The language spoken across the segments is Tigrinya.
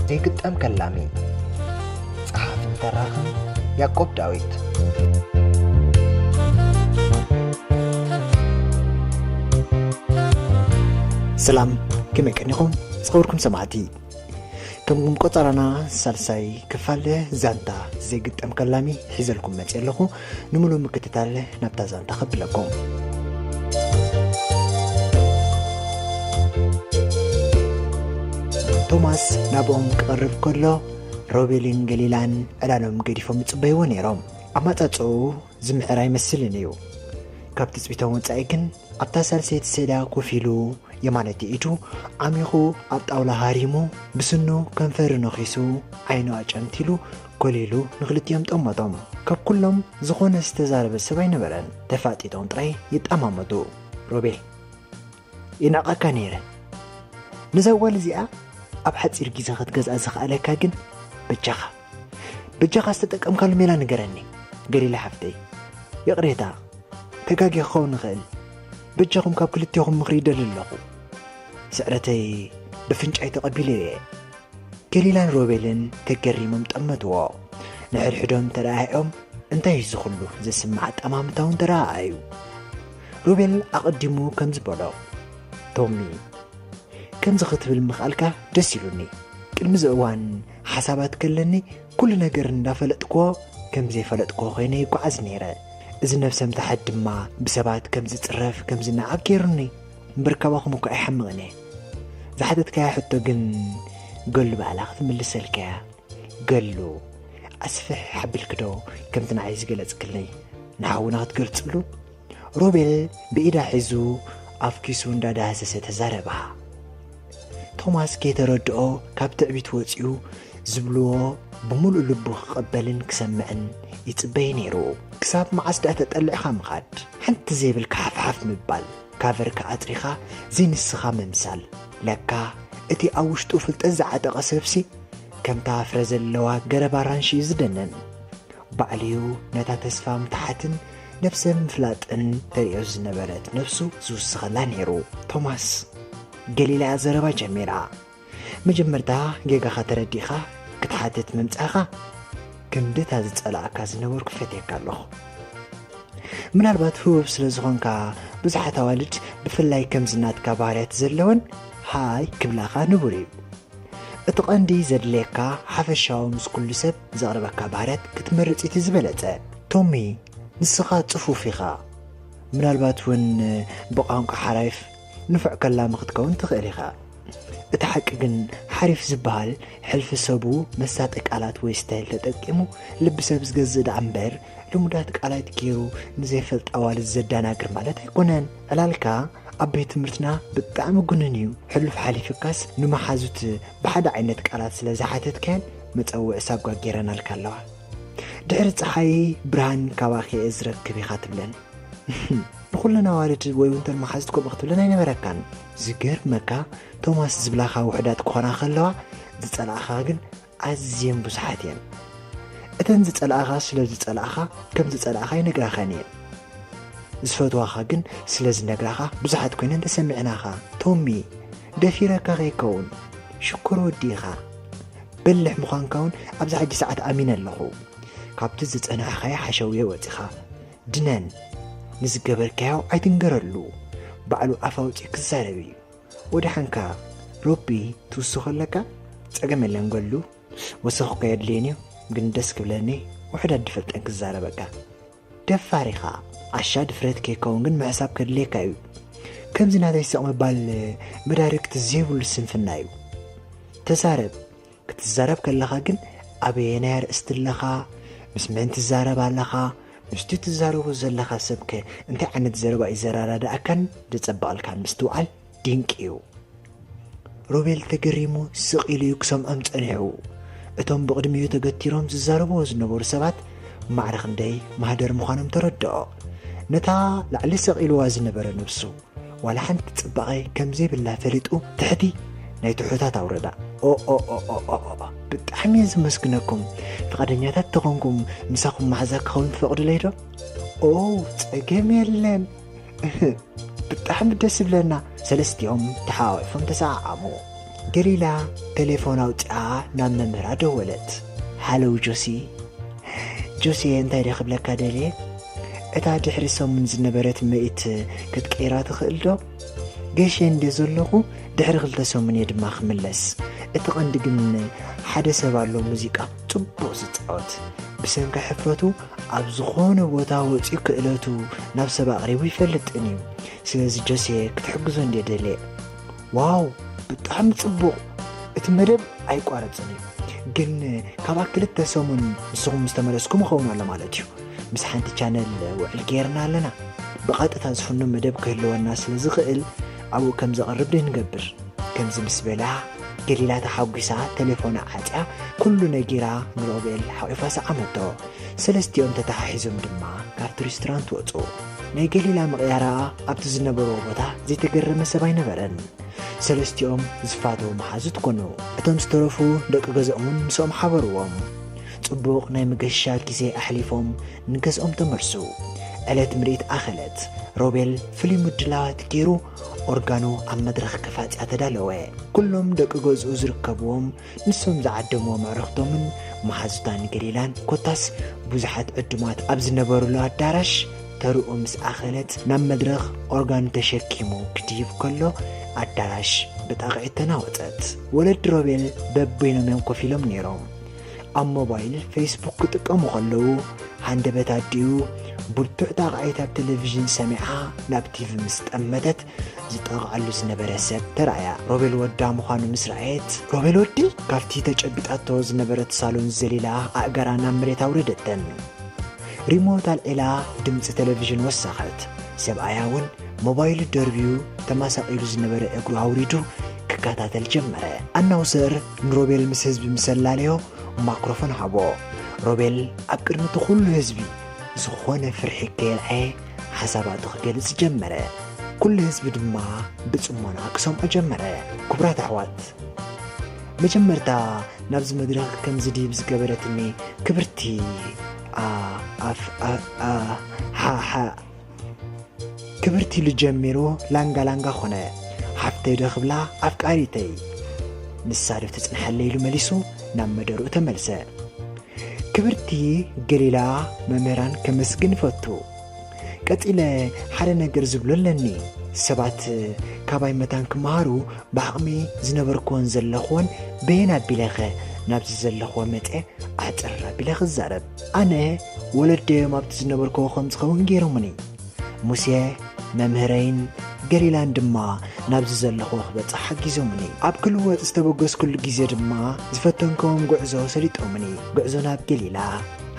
ዘይግጠም ከላሚ ጸሓፍን ተራኽን ያቆብ ዳዊት ሰላም ከመይ ቀኒኹም ዝኸበርኩም ሰማዕቲ ከምኩም ቆጸራና ሳልሳይ ክፋል ዛንታ ዘይግጠም ከላሚ ሒዘልኩም መጽ ኣለኹ ንምሉ ምክትታል ናብታ ዛንታ ከብለኩም ቶማስ ናብኦም ክቐርብ ከሎ ሮቤልን ገሊላን ዕላሎም ገዲፎም ይጽበይዎ ነይሮም ኣማጻጽኡ ዝምዕር ኣይመስልን እዩ። ካብ ትጽቢቶም ወጻኢ ግን ኣብታ ሳልሰይቲ ሰዳ ኮፍ ኢሉ የማነይቲ ኢዱ ዓሚኹ ኣብ ጣውላ ሃሪሙ ብስኑ ከንፈሩ ነኺሱ ዓይኑ ኣጨንቲሉ ኮሊሉ ንክልቲኦም ጠመቶም። ካብ ኩሎም ዝኾነ ዝተዛረበ ሰብ ኣይነበረን። ተፋጢጦም ጥራይ ይጠማመቱ። ሮቤል ይናቐካ ነይረ ነዛ ጓል እዚኣ ኣብ ሓፂር ግዜ ክትገዝኣ ዝኸኣለካ ግን በጃኻ በጃኻ ዝተጠቀምካሉ ሜላ ንገረኒ ገሊላ ሓፍተይ ይቕሬታ ተጋጊ ክኸውን ይኽእል በጃኹም ካብ ክልቴኹም ምኽሪ ይደሊ ኣለኹ ስዕረተይ ብፍንጫይ ተቐቢለ እየ ገሊላን ሮቤልን ተገሪሞም ጠመትዎ ንሕድሕዶም ተረኣዮም እንታይ እዩ ዝኽሉ ዘስምዕ ኣጠማምታውን ተረኣኣዩ ሮቤል ኣቐዲሙ ከምዚ በሎ፣ ቶሚ፣ ከምዚ ክትብል ምኽኣልካ ደስ ኢሉኒ። ቅድሚ እዚ እዋን ሓሳባት ከለኒ ኩሉ ነገር እንዳፈለጥክዎ ከም ዘይፈለጥክዎ ኮይነ ይጓዓዝ ነይረ። እዚ ነብሰ ምትሓት ድማ ብሰባት ከም ዝጽረፍ ከም ዝነዓቕ ገይሩኒ። እምበር ካባኹም እኳ ኣይሓምቕን እየ። ዝሓተትካያ ሕቶ ግን ገሉ ባዕላ ክትምልሰልካ እያ። ገሉ ኣስፍሕ ሓብልክዶ ከምቲ ንዓይ ዝገለጽክለይ ንሓውና ክትገልጽሉ ሮቤል ብኢዳ ሒዙ ኣብ ኪሱ እንዳዳህሰሰ ተዛረባ ቶማስ ከይተረድኦ ካብ ትዕቢት ወፂኡ ዝብልዎ ብምሉእ ልቡ ክቐበልን ክሰምዕን ይጽበይ ነይሩ ክሳብ መዓስ ድኣ ተጠሊዕኻ ምኻድ ሓንቲ ዘይብልካ ሓፍሓፍ ምባል ካቨርካ ኣጥሪኻ ዘይንስኻ ምምሳል ለካ እቲ ኣብ ውሽጡ ፍልጠት ዝዓጠቐ ሰብሲ ከምታ ፍረ ዘለዋ ገረብ ኣራንሺ እዩ ዝደነን ባዕልዩ ነታ ተስፋ ምትሓትን ነብሰ ምፍላጥን ተርእዮ ዝነበረት ነብሱ ዝውስኸላ ነይሩ ቶማስ ገሊላ ዘረባ ጀሚራ መጀመርታ ጌጋኻ ተረዲእኻ ክትሓትት ምምጻኻ ክንድታ ዝጸላእካ ዝነበርኩ ፈትየካ ኣለኹ ምናልባት ህቡብ ስለ ዝኾንካ ብዙሓት ኣዋልድ ብፍላይ ከምዚ ናትካ ባህርያት ዘለወን ሃይ ክብላኻ ንቡር እዩ እቲ ቐንዲ ዘድልየካ ሓፈሻዊ ምስ ኩሉ ሰብ ዘቕርበካ ባህርያት ክትመርጽ እቲ ዝበለጸ። ቶሚ ንስኻ ጽፉፍ ኢኻ፣ ምናልባት እውን ብቛንቋ ሓራይፍ ንፉዕ ከላሚ ክትከውን ትኽእል ኢኻ። እቲ ሓቂ ግን ሓሪፍ ዝበሃል ሕልፊ ሰቡ መሳጢ ቃላት ወይ ስታይል ተጠቂሙ ልቢ ሰብ ዝገዝእ ደኣ እምበር ልሙዳት ቃላት ገይሩ ንዘይፈልጥ ኣዋልድ ዘዳናግር ማለት ኣይኮነን ዕላልካ ኣብ ቤት ትምህርትና ብጣዕሚ ጉንን እዩ ሕሉፍ ሓሊፍካስ ንመሓዙት ብሓደ ዓይነት ቃላት ስለ ዝሓተትካን መፀውዒ ሳጓ ገይረናልካ ኣለዋ ድሕሪ ፀሓይ ብርሃን ካባኺ እየ ዝረክብ ኢኻ ትብለን ንኩለን ኣዋልድ ወይ እውን ተን መሓዙት ከምኡ ክትብለን ኣይነበረካን ዝገርመካ ቶማስ ዝብላኻ ውሕዳት ክኾና ከለዋ ዝፀላእኻ ግን ኣዝየን ብዙሓት እየን። እተን ዝጸልኣኻ ስለ ዝጸልኣኻ ከም ዝጸልኣኻ ይነግራኻን እየን። ዝፈትዋኻ ግን ስለ ዝነግራኻ ብዙሓት ኮይነን ተሰሚዕናኻ። ቶሚ ደፊረካ ከይከውን ሽኮር ወዲ ኢኻ። በልሕ ምዃንካ እውን ኣብዚ ሕጂ ሰዓት ኣሚነ ኣለኹ። ካብቲ ዝጸናሕኻዮ ሓሸውየ ወጺኻ ድነን ንዝገበርካዮ ኣይትንገረሉ ባዕሉ ኣፍ ኣውጺኡ ክዛረብ እዩ። ወደሓንካ ሮቢ ትውስኾ ኣለካ ጸገም የለን ገሉ ወሰኽ እኮ የድልየን እዩ ግን ደስ ክብለኒ ውሕድ ኣድፈልጠን ክዛረበካ ደፋር ኢኻ ዓሻ ድፍረት ከይከውን ግን ምሕሳብ ከድልየካ እዩ ከምዚ ናተይ ስቕ ምባል መዳርግቲ ዘይብሉ ስንፍና እዩ ተዛረብ ክትዛረብ ከለኻ ግን ኣበየናይ ኣርእስቲ ኣለኻ፣ ምስ መን ትዛረብ ኣለኻ፣ ምስቲ ትዛረቦ ዘለኻ ሰብከ እንታይ ዓይነት ዘረባ እዩ ዘረዳድኣካን ዘጸብቐልካን ምስትውዓል ድንቂ እዩ። ሮቤል ተገሪሙ ስቕ ኢሉ እዩ ክሰምዖም ጸኒሑ። እቶም ብቕድሚኡ ተገቲሮም ዝዛረብዎ ዝነበሩ ሰባት ማዕረ ክንደይ ማህደር ምዃኖም ተረድኦ። ነታ ላዕሊ ሰቒልዋ ዝነበረ ነብሱ ዋላ ሓንቲ ጽባቐ ከምዘይብላ ፈሊጡ ትሕቲ ናይ ትሑታት ኣውረዳ ኦኦኦኦኦኦ ብጣዕሚ እየ ዝመስግነኩም ፍቓደኛታት ተኾንኩም ምሳኹም ማሕዛ ክኸውን ትፈቕዱለይ ዶ ኦ ጸገም የለን ብጣዕሚ ደስ ይብለና ሰለስቲኦም ተሓዋዊፎም ተሰዓዓሙ ገሊላ ተሌፎን ኣውጺኣ ናብ መምህራ ደወለት። ሃሎው ጆሲ። ጆሲየ እንታይ ድየ ክብለካ ደልየ እታ ድሕሪ ሰሙን ዝነበረት ምርኢት ክትቅይራ ትኽእልዶ? ገሸ እንድየ ዘለኹ ድሕሪ ክልተ ሰሙን እየ ድማ ክምለስ። እቲ ቀንዲ ግን ሓደ ሰብ ኣሎ ሙዚቃ ጽቡቕ ዝጻወት ብሰንኪ ሕፍረቱ ኣብ ዝኾነ ቦታ ወጺኡ ክእለቱ ናብ ሰብ ኣቕሪቡ ይፈልጥን እዩ። ስለዚ ጆሲየ ክትሕግዞ እንድየ ደልየ። ዋው ብጣዕሚ ጽቡቕ እቲ መደብ ኣይቋረጽን እዩ ግን ካብኣ ክልተ ሰሙን ንስኹም ምስ ተመለስኩም ይኸውን ኣሎ ማለት እዩ ምስ ሓንቲ ቻነል ውዕል ገይርና ኣለና ብቐጥታ ዝፍኖ መደብ ክህልወና ስለ ዝኽእል ኣብኡ ከም ዘቕርብ ድንገብር ከምዚ ምስ በላ ገሊላ ተሓጒሳ ቴሌፎና ዓጽያ ኩሉ ነጊራ ንሮቤል ሓቒፋ ሰዓመቶ ሰለስቲኦም ተተሓሒዞም ድማ ካብቲ ሬስቶራንት ወጹ ናይ ገሊላ ምቕያራኣ ኣብቲ ዝነበርዎ ቦታ ዘይተገረመ ሰብ ኣይነበረን። ሰለስቲኦም ዝፋተዉ መሓዙት ኮኑ። እቶም ዝተረፉ ደቂ ገዝኦምን ምስኦም ሓበርዎም። ጽቡቕ ናይ መገሻ ግዜ ኣሕሊፎም ንገዝኦም ተመልሱ። ዕለት ምርኢት ኣኸለት። ሮቤል ፍሉይ ምድላዋት ገይሩ ኦርጋኑ ኣብ መድረኽ ከፋጽያ ተዳለወ። ኩሎም ደቂ ገዝኡ ዝርከብዎም ንሶም ዝዓደምዎም ኣዕሩኽቶምን መሓዙታ ንገሊላን ኮታስ ብዙሓት ዕዱማት ኣብ ዝነበሩሉ ኣዳራሽ ተርኡ ምስ ኣኸለት ናብ መድረኽ ኦርጋኑ ተሸኪሙ ክድይብ ከሎ ኣዳራሽ ብጣቕዒት ተናወጸት። ወለዲ ሮቤል በበይኖም እዮም ኮፍ ኢሎም ነይሮም። ኣብ ሞባይል ፌስቡክ ክጥቀሙ ከለዉ ሃንደበት ኣዲኡ ብርቱዕ ጣቕዒት ኣብ ቴሌቪዥን ሰሚዓ ናብ ቲቪ ምስ ጠመተት ዝጠቕዓሉ ዝነበረ ሰብ ተራእያ ሮቤል ወዳ ምዃኑ ምስ ረኣየት ሮቤል ወዲ ካብቲ ተጨቢጣቶ ዝነበረት ሳሎን ዘሊላ ኣእጋራ ናብ መሬት ኣውረደተን ሪሞት ኣልዒላ ድምፂ ቴሌቭዥን ወሰኸት ሰብኣያ እውን ሞባይሉ ደርብዩ ተማሳቂሉ ዝነበረ እግሩ ኣውሪዱ ክከታተል ጀመረ ኣናውሰር ንሮቤል ምስ ህዝቢ ምሰላለዮ ማክሮፎን ሃቦ ሮቤል ኣብ ቅድሚ እቲ ኩሉ ህዝቢ ዝኾነ ፍርሒ ከየልዓየ ሓሳባቱ ክገልጽ ጀመረ ኩሉ ህዝቢ ድማ ብጽሞና ክሰምዖ ጀመረ ክቡራት ኣሕዋት መጀመርታ ናብዚ መድረኽ ከምዚ ድብ ዝገበረትኒ ክብርቲ ክብርቲ ኢሉ ጀሚሩ ላንጋ ላንጋ ኮነ ሓፍተይ ዶ ክብላ ኣፍቃሪተይ ንሳ ዶ ትጽንሓለይ ኢሉ መሊሱ ናብ መደርኡ ተመልሰ ክብርቲ ገሊላ መምህራን ከመስግን እፈቱ። ቀጺለ ሓደ ነገር ዝብሎ ኣለኒ። ሰባት ካባይ መታን ክመሃሩ ብዓቕሚ ዝነበርክዎን ዘለኽዎን በየን ኣቢለኸ ናብዚ ዘለኽዎ መፀ ኣሕፅር ኣቢለ ክዛረብ ኣነ ወለደዮም ኣብቲ ዝነበርክዎ ከም ዝኸውን ገይሮሙኒ ሙሴ መምህረይን ገሊላን ድማ ናብዚ ዘለኹዎ ክበጽሕ ሓጊዞምኒ ኣብ ክልወጥ ዝተበገስኩሉ ግዜ ድማ ዝፈተንከዎም ጉዕዞ ሰሊጦምኒ ጉዕዞ ናብ ገሊላ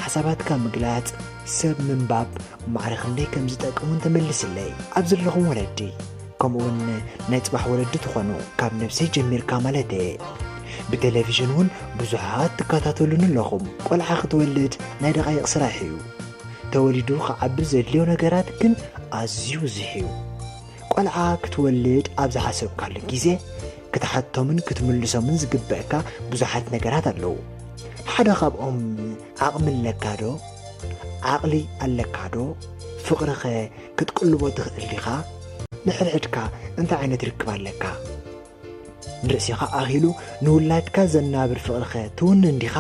ሓሳባትካ ምግላጽ ሰብ ምንባብ ማዕረ ክንደይ ከም ዝጠቅሙን ተመልስለይ ኣብ ዘለኹም ወለዲ ከምኡውን ናይ ጽባሕ ወለዲ ትኾኑ ካብ ነብሰይ ጀሚርካ ማለት እየ ብቴሌቭዥን እውን ብዙሓት ትከታተሉኒ ኣለኹም ቆልዓ ክትወልድ ናይ ደቓይቕ ስራሕ እዩ ተወሊዱ ክዓቢ ዘድልዮ ነገራት ግን ኣዝዩ ብዙሕ እዩ። ቆልዓ ክትወልድ ኣብ ዝሓሰብካሉ ግዜ ክትሓቶምን ክትምልሶምን ዝግበእካ ብዙሓት ነገራት ኣለዉ። ሓደ ካብኦም ዓቕሚ ኣለካዶ? ዓቕሊ ኣለካዶ? ፍቕሪኸ ክትቅልቦ ትኽእል ዲኻ? ንሕድሕድካ እንታይ ዓይነት ርክብ ኣለካ? ንርእሲኻ ኣኺሉ ንውላድካ ዘናብር ፍቕሪኸ ትውንን ዲኻ?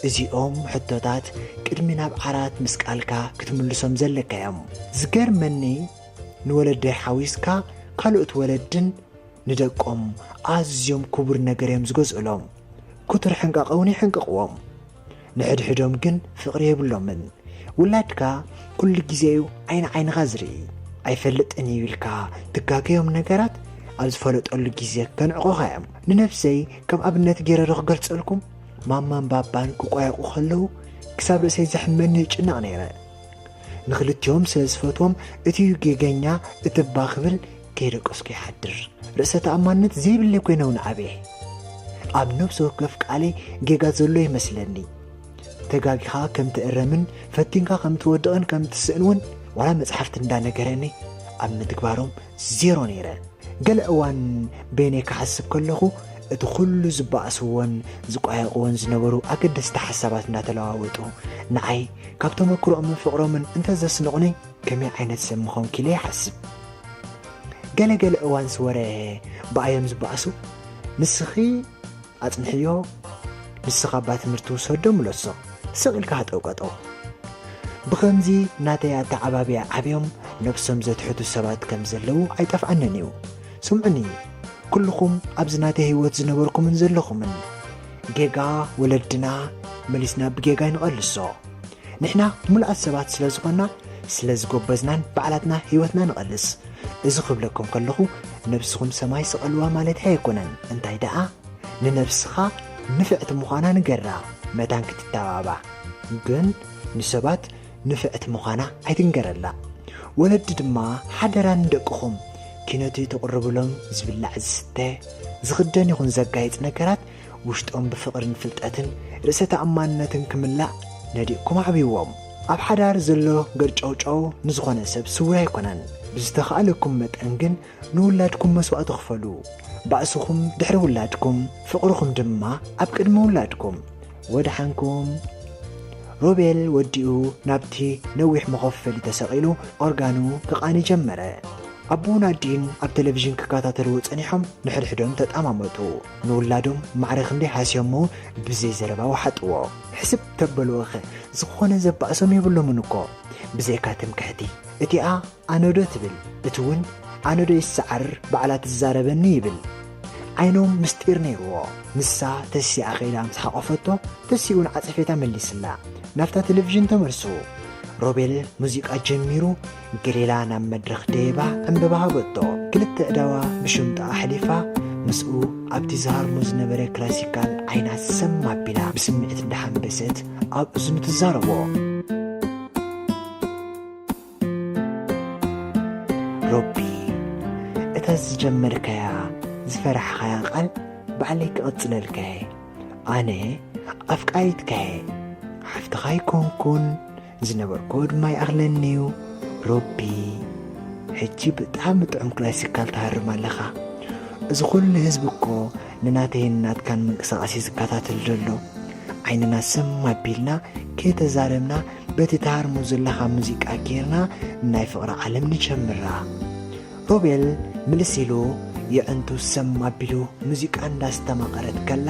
እዚኦም ሕቶታት ቅድሚ ናብ ዓራት ምስቃልካ ክትምልሶም ዘለካ እዮም። ዝገርመኒ ንወለደይ ሓዊስካ ካልኦት ወለድን ንደቆም ኣዝዮም ክቡር ነገር እዮም ዝገዝኡሎም። ክቱር ሕንቃቐ እውን ይሕንቅቕዎም። ንሕድሕዶም ግን ፍቕሪ የብሎምን። ውላድካ ኩሉ ግዜ እዩ ዓይኒ ዓይንኻ ዝርኢ። ኣይፈልጥን እዩ ኢልካ ትጋገዮም ነገራት ኣብ ዝፈለጠሉ ግዜ ከንዕቑኻ እዮም። ንነብሰይ ከም ኣብነት ገይረ ዶ ክገልጸልኩም? ማማን ባባን ክቋየቑ ከለዉ ክሳብ ርእሰይ ዘሕመኒ ይጭነቕ ነይረ። ንኽልቲኦም ስለ ዝፈትዎም እቲ ጌገኛ እቲ እባ ክብል ከይደቀስኩ ይሓድር። ርእሰ ተኣማንነት ዘይብለይ ኮይነ እውን ዓብየ። ኣብ ነብሲ ወከፍ ቃለይ ጌጋ ዘሎ ይመስለኒ። ተጋጊኻ ከም ትእረምን ፈቲንካ ከም ትወድቕን ከም ትስእን እውን ዋላ መጽሓፍቲ እንዳነገረኒ ኣብ ምትግባሮም ዜሮ ነይረ። ገለ እዋን በይነይ ክሓስብ ከለኹ እቲ ኩሉ ዝበኣስዎን ዝቋየቕዎን ዝነበሩ ኣገደስቲ ሓሳባት እናተለዋወጡ ንዓይ ካብ ተመክሮኦምን ፍቕሮምን እንተዘስንቑኒ ከመይ ዓይነት ሰብ ምኾንኪ ኢለ ይሓስብ። ገለ ገለ እዋንስ ወረ ብኣዮም ዝበኣሱ ንስኺ ኣጽንሕዮ ንስኻ እባ ትምህርቲ ውሰዶ ምለሶም ስቕ ኢልካ ሃጠውቀጠው ብኸምዚ ናተይ ኣተዓባብያ ዓብዮም ነብሶም ዘትሕቱ ሰባት ከም ዘለዉ ኣይጠፍኣንን እዩ ስምዑኒ ኩልኹም ኣብዚ ናተይ ህይወት ዝነበርኩምን ዘለኹምን ጌጋ ወለድና መሊስና ብጌጋ ይንቐልሶ ንሕና ምሉኣት ሰባት ስለ ዝኾና ስለ ዝጎበዝናን ባዕላትና ህይወትና ንቐልስ እዚ ክብለኩም ከለኹ ነብስኹም ሰማይ ስቐልዋ ማለተይ ኣይኮነን እንታይ ደኣ ንነብስኻ ንፍዕቲ ምዃና ንገራ መታን ክትተባባዕ ግን ንሰባት ንፍዕቲ ምዃና ኣይትንገረላ ወለዲ ድማ ሓደራ ንደቅኹም ኪነቱ ተቕርብሎም ዝብላዕ ዝስተ ዝኽደን ይኹን ዘጋይጽ ነገራት ውሽጦም ብፍቕርን ፍልጠትን ርእሰ ተኣማንነትን ክምላእ ነዲእኩም ኣዕብይዎም። ኣብ ሓዳር ዘሎ ገርጨውጨው ንዝኾነ ሰብ ስውር ኣይኮነን። ብዝተኻእለኩም መጠን ግን ንውላድኩም መስዋእቲ ክፈሉ። ባእስኹም ድሕሪ ውላድኩም፣ ፍቕርኹም ድማ ኣብ ቅድሚ ውላድኩም። ወድሓንኩም። ሮቤል ወዲኡ ናብቲ ነዊሕ መኾፈሊ ተሰቒሉ ኦርጋኑ ክቓኒ ጀመረ። ኣቦን ኣዲን ኣብ ቴሌቪዥን ክከታተልዎ ጸኒሖም ንሕድሕዶም ተጣማመቱ። ንውላዶም ማዕረ ክንደይ ሃስዮሞ ብዘይ ዘረባ ወሓጥዎ። ሕስብ ተበልዎኸ ዝኾነ ዘባእሶም የብሎምን እኮ ብዘይካ ትምክሕቲ እቲኣ ኣነዶ ትብል እቲ ውን ኣነዶ ይሰዓርር ባዕላ ትዛረበኒ ይብል ዓይኖም ምስጢር ነይርዎ። ንሳ ተሲኣ ከይዳ ምስ ሓቖፈቶ ተሲኡ ንዓጸፌታ መሊስላ ናብታ ተለቪዥን ተመልሱ። ሮቤል ሙዚቃ ጀሚሩ ገሊላ ናብ መድረኽ ደይባ ዕምበባ ሃበቶ። ክልተ ኣእዳዋ ብሽምጣ ኣሕሊፋ ምስኡ ኣብቲ ዝሃርሞ ዝነበረ ክላሲካል ዓይና ሰም ኣቢላ ብስምዒት እንዳሓንበሰት ኣብ እዝኑ ትዛረቦ። ሮቢ እታ ዝጀመርካያ ዝፈራሕኻያ ቃል ባዕለይ ክቕጽለልካየ ኣነ ኣፍቃሪትካየ ሓፍትኻ ኣይኮንኩን ዝነበርክዎ ድማ ይኣኽለኒ እዩ ሮቢ ሕጂ ብጣዕሚ ጥዑም ክላሲካል ትሃርም ኣለኻ እዚ ኩሉ ህዝቢ እኮ ንናተይን ናትካን ምንቅስቓስ እዩ ዝከታተል ዘሎ ዓይንና ስም ኣቢልና ከይተዛረብና በቲ ትሃርሞ ዘለኻ ሙዚቃ ጌርና ናይ ፍቕሪ ዓለም ንጀምራ ሮቤል ምልስ ኢሉ የዕንቱ ሰም ኣቢሉ ሙዚቃ እንዳስተማቐረት ከላ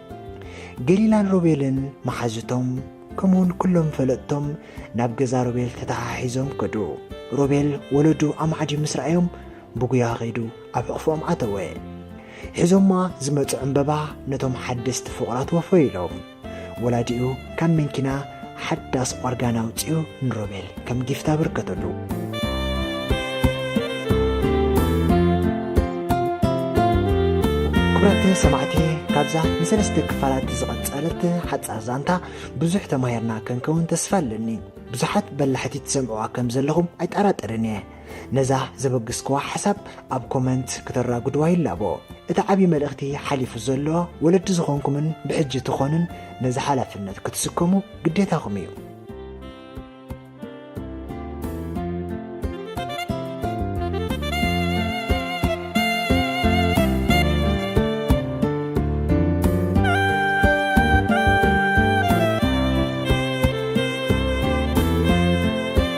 ገሊላን ሮቤልን መሓዙቶም ከምኡውን ኩሎም ፈለጥቶም ናብ ገዛ ሮቤል ተተሓሒዞም ከዱ። ሮቤል ወለዱ ኣብ ማዕዲ ምስ ረኣዮም ብጉያ ኸይዱ ኣብ ሕቕፎኦም ኣተወ። ሒዞማ ዝመጹ ዕምበባ ነቶም ሓደስቲ ፍቑራት ወፈዩሎም። ወላዲኡ ካብ መንኪና ሓዳስ ኦርጋን ኣውጺኡ ንሮቤል ከም ጊፍት ኣበርከተሉ። ክቡራት ሰማዕቲ ካብዛ ንሰለስተ ክፋላት ዝቐጸለት ሓጻር ዛንታ ብዙሕ ተማሂርና ክንከውን ተስፋ ኣለኒ ብዙሓት በላሕቲ ትሰምዕዋ ከም ዘለኹም ኣይጠራጠርን እየ ነዛ ዘበግስክዋ ሓሳብ ኣብ ኮመንት ክተራጉድዋ ይላቦ። እቲ ዓብዪ መልእኽቲ ሓሊፉ ዘሎ ወለዲ ዝኾንኩምን ብሕጂ ትኾኑን ነዚ ሓላፍነት ክትስከሙ ግዴታኹም እዩ።